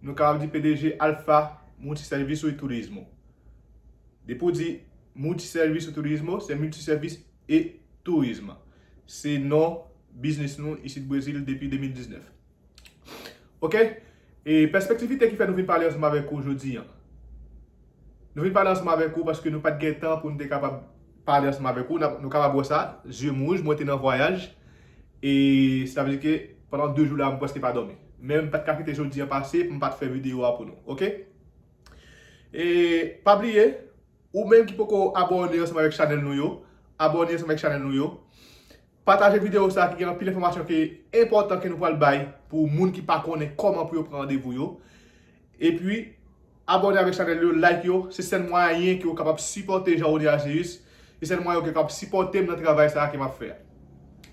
Nou kapab di pdg Alfa Multiserviço e Turismo. Depi w di Multiserviço e Turismo, se Multiservice et Tourisme. Se non biznis nou isit Brezil depi 2019. Ok, e pèspektivite ki fè nou vin pale ansanm avèk ou jodi an. Nou vin pale ansanm avèk ou paske nou pa t gen tan pou nou te kapab pale ansanm avèk ou. Nou kapab wè sa, zye m wouj, mwen te nan vwayaj. E sa vle di ke pandan 2 jou la m preske pa domi. Men m pat ka kite jodi an pase pou m pat fè video a pou nou ok. E pa bliye ou menm ki poko abòne ansanm avèk chanèl nou yo, abòne ansanm avèk chanèl nou yo. Pataje video sa ki gen anpil enfòmasyon ki enpòtan ke nou pral bay pou moun ki pa konnen kòman pou yo pran randevou yo. Epi abòne avèk chanèl yo like yo se sèl mwayen ke ou kapab sipòte Jean Rony Argéus se sèl mwayen ou ke kapab sipòtem nan travay sa ke map fè a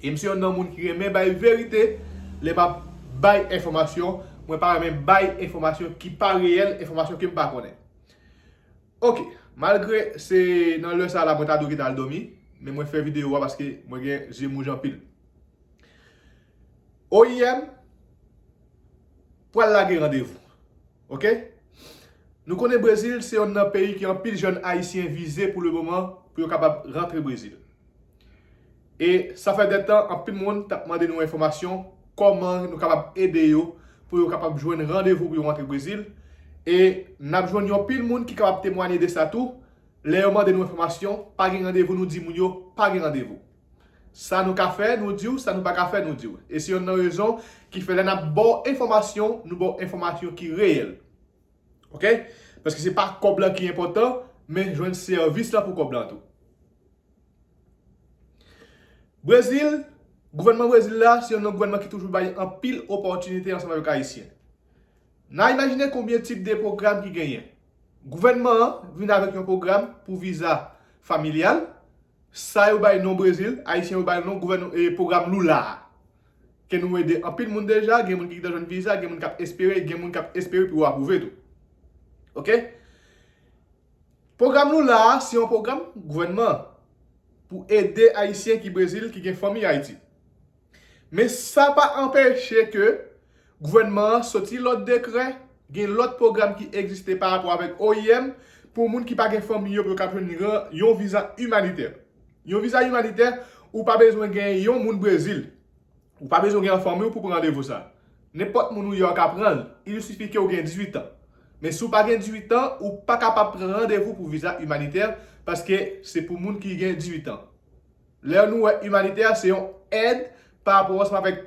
e m se yon nan moun ki renmen bay verite lè map bay enfòmasyon mwen pa renmen bay enfòmasyon ki pa reyèl enfòmasyon kem pa konnen ok malgre se nan lè sa la mwen ta dwe geta al dòmi men mwen fè video a paske mwen gen zye mouj anpil. oim pwal lage randevou ok nou konnen brezil se yonn nan peyi ki anpil jèn ayisyen vize pou le moman pou yo kapab rantre brezil e sa fè de tan anpil moun tap mande nou enfòmasyon kòman nou kapab ede yo pou yo kapab jwenn randevou pou yo rantre brezil e nap jwenn yon pil moun ki kapab temwanye de sa tou lè yo mande nou enfòmasyon pa gen randevou nou di moun yo pa gen randevou. Sa nou ka fè, nou di w, sa nou pa ka fè, nou di w. E se yonn nan rezon ki fè lè n ap ba w enfòmasyon, nou ba w enfòmasyon ki reyèl. Ok? Paske se pa kòb lan ki enpòtan, men jwenn sèvis lan pou kòb lan tou. Brezil, gouvènman Brezil la, se yonn nan gouvènman ki toujou bay anpil opòtinite ansanm avèk Ayisyen. N a imajine konbyen tip de pwogram ki genyen. Gouvènman an vin avèk yon pwogram pou viza familyal, Sa yo bay non Brezil, Ayisyen yo bal non gouvènman e pwogram Lula a. Ke nou ede anpil moun deja, gen moun ki gentan jwenn viza, gen moun k ap espere, gen moun k ap espere pou yo apwouve tou. Ok. Pwogram Lula a se yon pwogram gouvènman pou ede Ayisyen ki Brezil ki gen fanmi Ayiti. Men sa pa anpeche ke gouvènman an soti lòt dekrè, gen lòt pwogram ki egziste pa rapò avèk oim pou moun ki pa gen fanmi yo pou yo kab jwenn yon viza imanitè. Yon viza imanitè, ou pa bezwen gen yon moun Brezil, ou pa bezwen gen nan fanmi w pou pran randevou sa. Nenpòt moun ou ye w ka pran l, il sifi ke w gen 18 an. Men si w pa gen 18 an, ou pa kapab pran randevou pou viza imanitè paske se pou moun ki gen 18 an. Lè nou wè imanitè se yon èd pa rapò ansanm avèk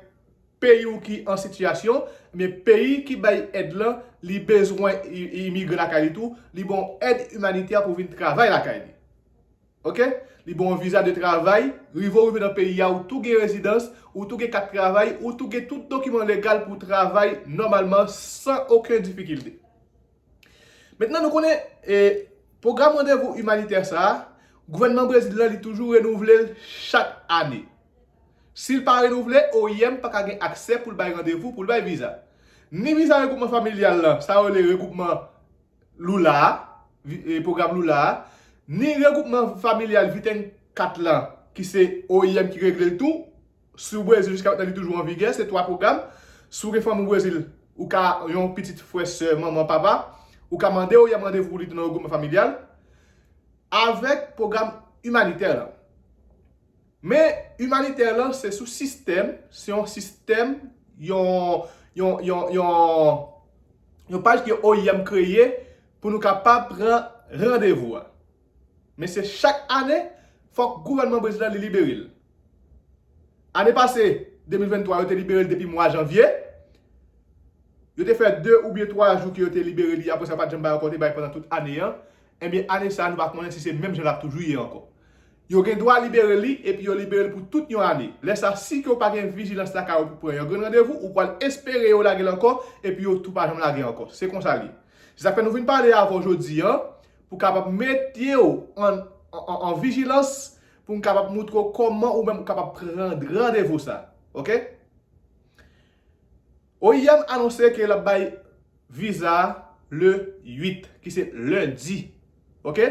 peyi ou ki an sitiyasyon, ebyen peyi ki bay èd lan li bezwen imigran lakay li tou, li ba w èd imanitè pou w vin travay lakay li. Ok. Li ba w viza de travay, rive w rive nan peyi a ou tou gen rezidans, ou tou gen kat travay, ou tou gen tout dokiman legal pou w travay nòmalman san oken difikilte. Mentnan nou konnen e pwogram randevou imanitè sa a, gouvènman Brezil la li toujou renouvle l chak ane. Si l pa renouvle, oim pa ka gen aksè pou l bay randevou, pou l bay viza. Ni viza regwoupman familyal la, sa yo rele regwoupman Lula a, e pwogram Lula a, ni regwoupman familyal Viten 4 lan, ki se oim ki regle l tou, Si w Brezil jiska metnan li toujou an vigè, se 3 pwogram. Si w gen fanmi w Brezil, ou ka yon pitit, frè, sè, manman, papa, ou ka mande ou yèm randevou li tou nan regwoupman familyal avèk pwogram imanitè lan. Men imanitè lan se sou sistèm, se yon sistèm, yon, yon, yon, yon, yon paj ke oim kreye pou nou kapab pran randevou a. Men se chak ane fòk gouvènman Bresil an li libere l. Ane pase, 2023, yo te libere l depi mwa janvye. Yo te fè 2 oubyen 3 jou ke yo te libere li, apre sa yo pa t janm bay ankò, yo te bay pandan tout ane an. Enben, ane sa a nou pa konnen si se menm jan l ap toujou ye ankò. Yo gen dwa libere li epi yo libere l pou tout yon ane. Lè sa, si ke w pa gen vijilans lakay ou pou pran yon grenn randevou, ou pral espere yo lage l ankò epi yo tou pa janm lage ankò. Se konsa l ye. Se sa k fè nou vin pale avè w jodi an. pou kapab mete w an vijilans pou m kapab moutre w kòman ou menm kapab pran randevou sa. Ok. Oim anonse ke l ap bay viza a le 8 ki se lendi. Ok.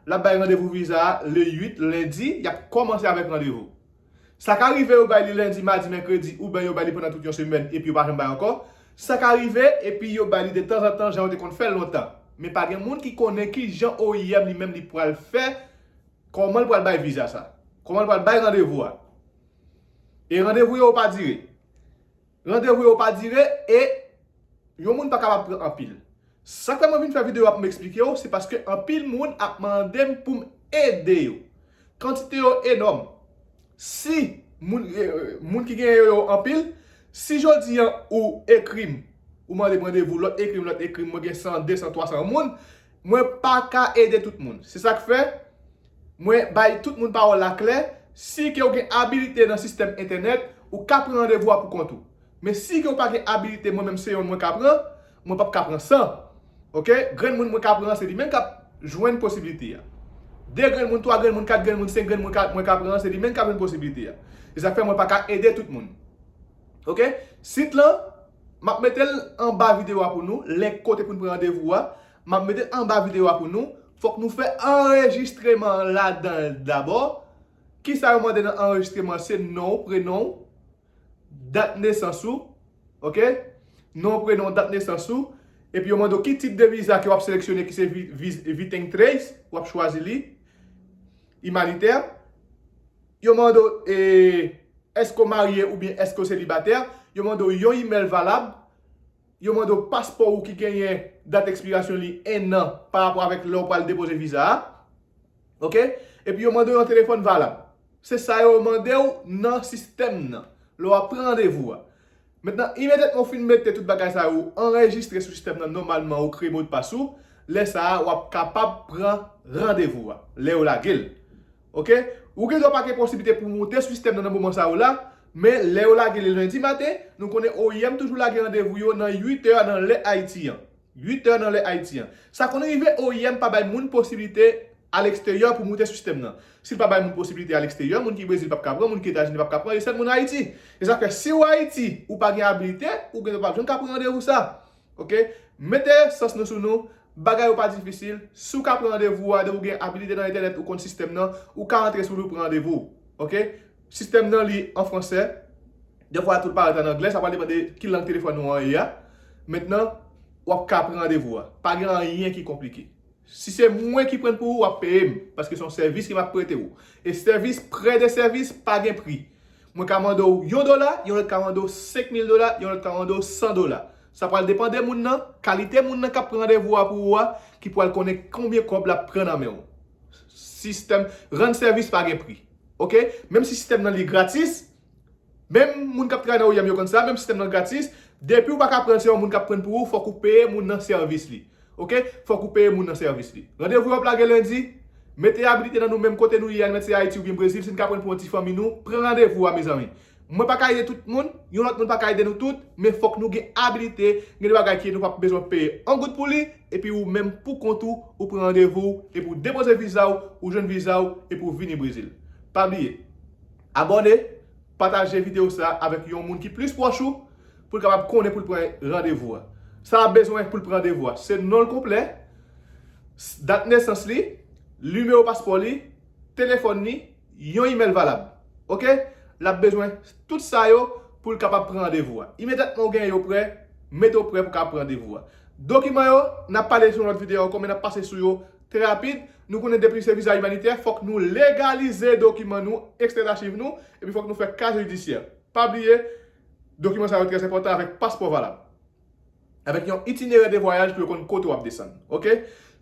L ap bay randevou viza a le 8 lendi. Y ap kòmanse avèk randevou. Sa ka rive yo bay li lendi, madi, mèkredi ouben yo bay li pandan tout yon semèn epi yo pa janm bay ankò. Sa ka rive epi yo bay li de tanzantan jan yo te konn fè l lontan. Men pa gen moun ki konnen ki jan oim li menm li pral fè, kòman l pral bay viza sa. Kòman l pral bay randevou a. E randevou yo yo pa dire. Randevou yo pa dire e Yon moun pa kapab pran anpil. Sak fè mwen vin fè video a poum eksplike ou se paske anpil moun ap mandem poum ede yo. Kantite yo enòm. Si moun moun ki genyen yo yo anpil, si jodi an ou ekrim ou mandem randevou lòt ekrim lòt ekrim mwen gen 100, 200, 300 moun, mwen paka ede tout moun. Se sak fè Mwen bay tout moun pawòl la klè, si ke w gen abilite nan sistèm entènèt, ou ka pran randevou a pou kont ou. Men si ke w pa gen abilite mwen menm se yon mwen ka pran, mwen pap ka pran 100. Ok, grenn moun mwen ka pran an se li menm kap jwenn posibilite a. 2 grenn moun, 3 grenn moun, 4 grenn moun, 5 grenn moun ka mwen ka pran an se li menm kap jwenn posibilite a. Se sak fè mwen pa ka ede tout moun. Ok, sit lan map mete l anba video a pou nou, link kote pou n pran randevou a, map mete l anba video a pou nou, Fòk nou fè anrejistreman an ladan l dabò. Kisa yo mande nan anrejistreman an? Se non w, prenon w, dat nesans ou. Ok? Non w, prenon w, dat nesans ou. Epi yo mande w ki tip de viza ke w ap seleksyone ki se Viten Trace, w ap chwazi li. Imanitè. Yo mande w e, èske w marye oubyen èske w selibatè. Yo mande w yon imèl valab. Yo mande w paspò ou ki genyen dat ekspirasyon li 1 an pa rapò avèk lè ou pral depoze viza a. Ok. Epi yo mande w yon telefòn valab. Se sa yo mande w nan sistèm nan lè w ap pran randevou a. Mentnan, imedyatman ou fin mete tout bagay sa yo, ou anrejistre sou sistèm nan nòmalman, ou kreye modpas ou, lè sa a w ap kapab pran randevou a lè yo lage l. Ok ou gen dwa pa gen posiblite pou moute sou sistèm nan nan moman sa yo la men lè yo lage li lendi maten nou konnen oim toujou lage randevou yo nan 8 è nan lè Ayiti an 8 è nan lè Ayiti an sa konn rive oim pa bay moun posiblite aleksteryè pou moute sou sistèm nan si l pa bay moun posiblite aleksteryè moun ki Brezil p ap ka pran moun ki Etazini p ap ka pran e sèl moun Ayiti e sa fè si w Ayiti ou pa gen abilite ou gen dwa pa jwenn ka pran randevou sa Ok mete sans nou sou nou bagay yo pa difisil si w ka pran randevou a depi w gen abilite nan entènèt ou konn sistèm nan ou ka antre sou li w pran randevou w ok sistèm nan li an fransè dèfwa tou l parèt an anglè sa pral depann de ki lang telefòn ou an ye a mentnan w ap ka pran randevou a pa gen anyen ki konplike. Si se mwen ki prann pou ou, w ap peye m, paske se yon sèvis ke m ap prete ou. E sèvis prè de sèvis pa gen pri. Mwen ka mande ou yon dola, yon lòt ka mande ou senk mil dola, yon lòt ka mande ou san dola. Sa pral depan de moun nan, kalite moun nan k ap pran randevou a pou ou a, ki pral konnen konbyen kòb l ap pran nan men ou. Sistèm rann sèvis pa gen pri. Ok? Menm si sistèm nan li gratis, Menm moun kap travay nan OIM yo konn sa, menm sistèm nan gratis, depiw paka pranl se yon moun kap prann pou ou fòk ou peye moun nan sèvis li ok fòk ou peye moun nan sèvis li randevou yo ap lage lendi mete abilite nan nou menm kote nou ye a nou mèt se ayiti oubyen brezil sin ka prann pou yon ti fanmi nou pran randevou a mezanmi mwen paka ede tout moun yon lòt moun paka ede nou tout men fòk nou gen abilite gen de bagay ki nou pap bezwen peye on goud pou li epi ou menm pou kont ou ou pran randevou w epi w depoze vizaw ou jwenn vizaw epi w vini brezil pa bliye Abòne, pataje videyo sa avèk yon moun ki plis pwòch ou pou l kapab konnen pou l pran randevou a. Sa l ap bezwen pou l pran randevou a, se non l konplè, dat nesans li, nimewo paspò li, telefòn li, yon imèl valab. Ok, l ap bezwen tout sa yo pou l kapab pran randevou a. Imedyatman ou gen yo prè, mete w prè pou w kapab pran randevou a. Dokiman yo, n ap pale sou yon lòt videyo ankò men n ap pase sou yo. Trè rapid, nou konnen depi se viza imanitè, fòk nou legalize dokiman nou, ekstrè achiv nou, epi fòk nou fè kaje jidisyè. Pa bliye, dokiman sa yo trè enpòtan avèk paspò valab. Avèk yon itinerè de vwayaj pou yo konn kote w ap desann. Ok.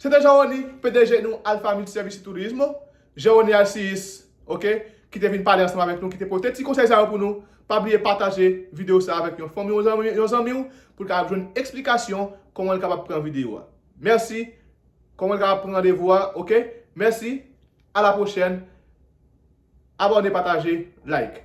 Se te Jean-Rony, pdg nou Alpha Multiservices Tourisme, Jean-Rony Alcius, ok, ki te vin pale ansanm avèk nou, ki te pote ti konsèy sa yo pou nou. Pa bliye pataje videyo sa avèk yon fanmi w, yon zanmi w, pou l kapab jwenn eksplikasyon kòman l kapab pran videyo a. Mèsi. Koman li kapab pran randevou a ok mèsi a la pwochèn abòne pataje like.